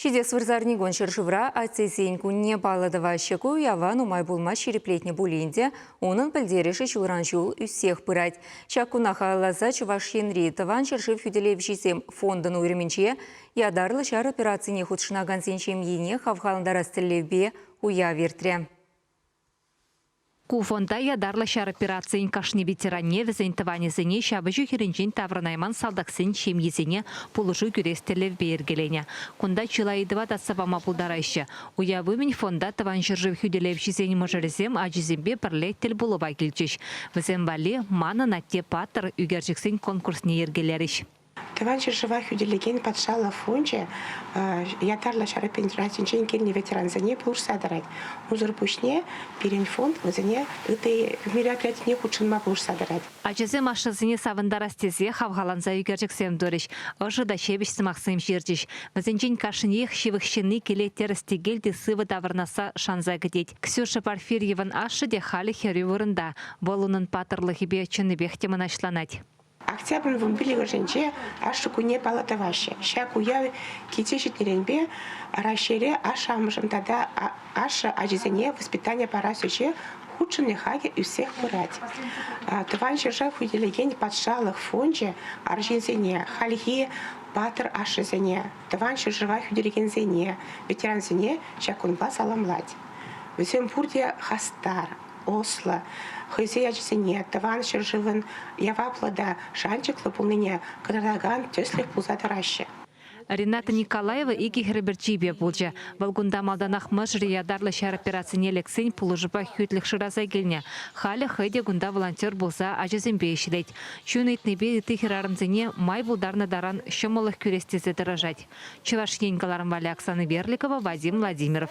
Ҫитес вырсарникун ҫӗршывра Атьсен кунне паллӑ тӑваҫҫӗ. Ку уява нумай пулмасть ҫирӗплетнӗ пулин те, унӑн пӗлтерӗшӗ ҫулран-ҫул ӳссех пырать. Ҫак куна халалласа Чӑваш Енри Тӑван ҫӗршыв хӳтӗлевҫисем фондӑн уйрӑмӗнче ятарлӑ ҫар операцине хутшӑнакансен ҫемйине хавхалантарас тӗллевпе уяв иртрӗ. Ку фонда ятарлӑ ҫар операцийӗн кашни ветеранне, вӗсен тӑванӗсене ҫапӑҫу хирӗнчен таврӑнайман салтаксен ҫемйисене пулӑшу кӳрес тӗллевпе йӗркеленӗ. Кунта чылай ыйтӑва татса пама пултараҫҫӗ. Уяв умӗн фонда тӑван ҫӗршыв хӳтӗлевҫисен мӑшӑрӗсем ачисемпе пӗрле тӗлпулӑва килчӗҫ. Вӗсем валли Манӑн атте паттӑр ӳкерчӗксен конкурсне йӗркелерӗҫ. Тӑван ҫӗршыва хӳтӗлекен патшалӑх фончӗ ятарлӑ ҫар операцинчен килнӗ ветерансене пулӑшса тӑрать. Унсӑр пуҫне пирӗн фонд вӗсене ытти мероприятине хутшӑнма пулӑшса тӑрать. Ачасем ашшӗсене савӑнтарас тесе хавхаланса ӳкерчӗксем турӗҫ, ӑшӑ та ҫепӗҫ сӑмахсем ҫырчӗҫ. Вӗсенчен кашниех ҫывӑх ҫынни киле тӗрӗс-тӗкел те сывӑ таврӑнасса шанса кӗтет. Ксюша Порфирьевӑн ашшӗ те халӗ хӗрӳ вырӑнта. Вӑл унӑн паттӑрлӑхӗпе чӑннипех те мӑнаҫланать. Октябрьӑн пиллӗкӗшӗнче Ашшӗ кунне паллӑ тӑваҫҫӗ. Ҫак уяв килсе ҫитнӗренпе Раҫҫейре ашшӗ-амӑшӗн тата ашшӗ ачисене воспитани парас ӗҫе хутшӑнни хакӗ ӳссех пырать. Тӑван ҫӗршыв хӳтӗлекен патшалӑх фончӗ арҫынсене, хальхи паттӑр ашшӗсене, тӑван ҫӗршыва хӳтӗлекенсене, ветерансене ҫак кунпа саламлать. Вӗсем пурте хастар, ӑслӑ, хӑйсен ачисене тӑван ҫӗршывӑн яваплӑ та шанчӑклӑ пулнине кӑтартакан тӗслӗх пулса тӑраҫҫӗ. Рената Николаева икӗ хӗрӗ пӗрчипе пулчӗ. Вӑл кунта малтанах мӑшӑрӗ ятарлӑ ҫар операцине лексен пулӑшупа хӳтлӗх шыраса килнӗ. Халӗ хӑй те кунта волонтер пулса ачасемпе ӗҫлет. Чун ыйтнипе ытти хӗрарӑмсене май пултарнӑ таран ҫӑмӑллӑх кӳрес тесе тӑрӑшать. Чӑваш Ен кӑларӑм валли Оксана Берликова, Вадим Владимиров.